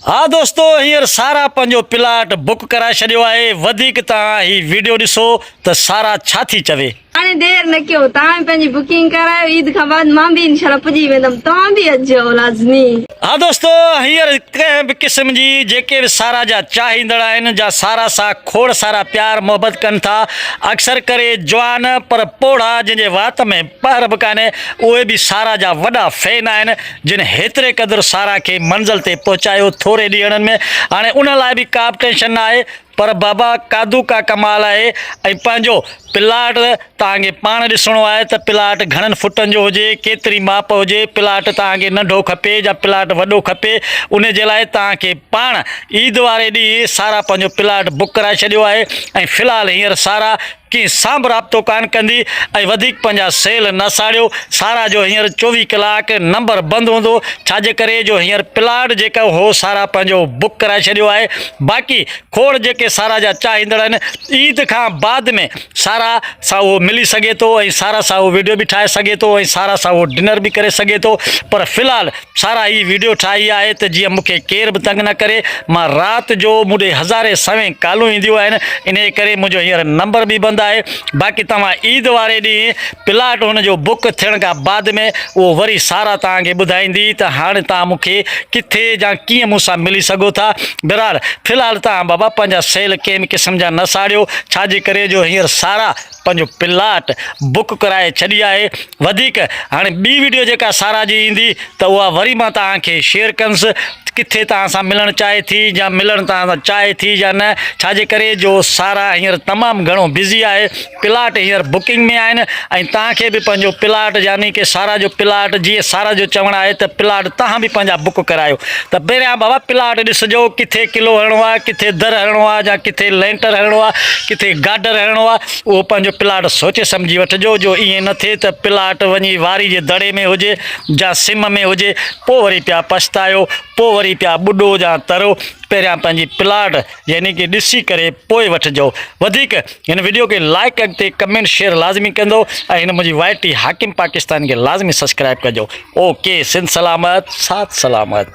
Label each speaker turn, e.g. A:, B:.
A: ها دوستو هينئر سارا پنهنجو پلاٽ بڪ ڪرائي ڇڏيو آهي وڌيڪ توهان هي ويڊيو ڏسو ته سارا ڇا ٿي چوي. هاڻي دير نه ڪيو
B: توهان به پنهنجي بڪنگ ڪرايو عيد کان بعد مان به انشاء الله پڄي ويندم توهان به اچجو لازمي. ها دوستو
A: هينئر ڪنهن به قسم جي جيڪي به سارا جا چاهيندڙ آهن جا سارا سان کوڙ سارا پيار محبت ڪن ٿا اڪثر ڪري جوان پر پوڙها جنهن جي وات ۾ پهر به ڪانهي اهي به سارا جا وڏا فين آهن جن هيتري قدر سارا کي منزل تي پهچايو ٿوري ڏينهڙن ۾ هاڻي ان لاء به ڪابه ٽينشن نه آهي پر بابا قادو ڪا ڪمال آهي ۽ پنهنجو پلاٽ توهان کي پاڻ ڏسڻو آهي ته پلاٽ گهڻن فٽن جو هجي ڪيتري ماپ هجي پلاٽ توهان کي ننڍو کپي يا پلاٽ وڏو کپي ان جي لاء توهان کي پاڻ عيد واري ڏينهن سارا پنهنجو پلاٽ بڪ ڪرائي ڇڏيو آهي ۽ في الحال هينئر سارا ڪنهن سان به رابطو ڪانه ڪندي ۽ وڌيڪ پنهنجا سيل نه ساڙيو، سارا جو هينئر چوويهه ڪلاڪ نمبر بند هوندو، ڇاجي ڪري جو هينئر پلاٽ جيڪا هو سارا پنهنجو بڪ ڪرائي ڇڏيو آهي، باقي کوڙ جيڪي سارا جا چاهيندڙ آهن عيد کان بعد ۾ سارا سان اهو ملي سگهي ٿو ۽ سارا سان اهو وڊيو به ٺاهي سگهي ٿو ۽ سارا سان اهو ڊنر به ڪري سگهي ٿو پر في الحال سارا هي ويڊيو ٺاهي آهي ته جيئن مون کي ڪير به تنگ نه ڪري، مان رات جو مون ڏي هزارين سوين ڪالون اينديون آهن، انهي ڪري منهنجو هينئر نمبر به بند آهي، باقي توهان عيد واري ڏينهن پلاٽ هن جو بڪ ٿيڻ کان بعد ۾ اهو وري سارا توهان کي ٻڌائيندي ته هاڻي توهان مون کي ڪٿي يا ڪيئن مون سان ملي سگهو ٿا، بهرحال في الحال توهان بابا پنهنجا سيل ڪنهن به قسم جا نه ساڙيو، ڇا جي ڪري جو هينئر سارا. پنهنجو پلاٽ بڪ ڪرائي ڇڏي آهي وڌيڪ هاڻي ٻي ويڊيو جيڪا سارا جي ايندي ته اها وري مان توهان کي شيئر ڪنس ڪٿي توهان سان ملڻ چاهي ٿي يا ملڻ توهان سان چاهي ٿي يا نه ڇاجي ڪري جو سارا هينئر تمام گهڻو بزي آهي پلاٽ هينئر بڪنگ ۾ آهن ۽ توهان کي به پنهنجو پلاٽ يعني ڪي سارا جو پلاٽ جي سارا جو چوڻ آهي ته پلاٽ توهان به پنهنجا بڪ ڪرايو ته پهريان بابا پلاٽ ڏسجو ڪٿي قلعو هڻڻو آهي ڪٿي در هڻڻو آهي جا ڪٿي لينٽر هڻڻو آهي ڪٿي گارڊر هڻڻو آهي اهو پنهنجو پلاٽ سوچي سمجهي وٺجو جو ائين نه ٿئي ته پلاٽ وڃي واري جي دڙي ۾ هجي جا سم ۾ هجي پوء وري پيا پڇتايو پوء وري پيا ٻڏو جا ترو پهريان پنهنجي پلاٽ يعني ڪي ڏسي ڪري پوء وٺجو وڌيڪ هن وڊيو کي لائڪ اڳتي ڪمينٽ شيئر لازمي ڪندو ۽ هن منهنجي وائٽي حاڪم پاڪستان کي لازمي سبسڪرائب ڪجو اوڪي سنڌ سلامت سات سلامت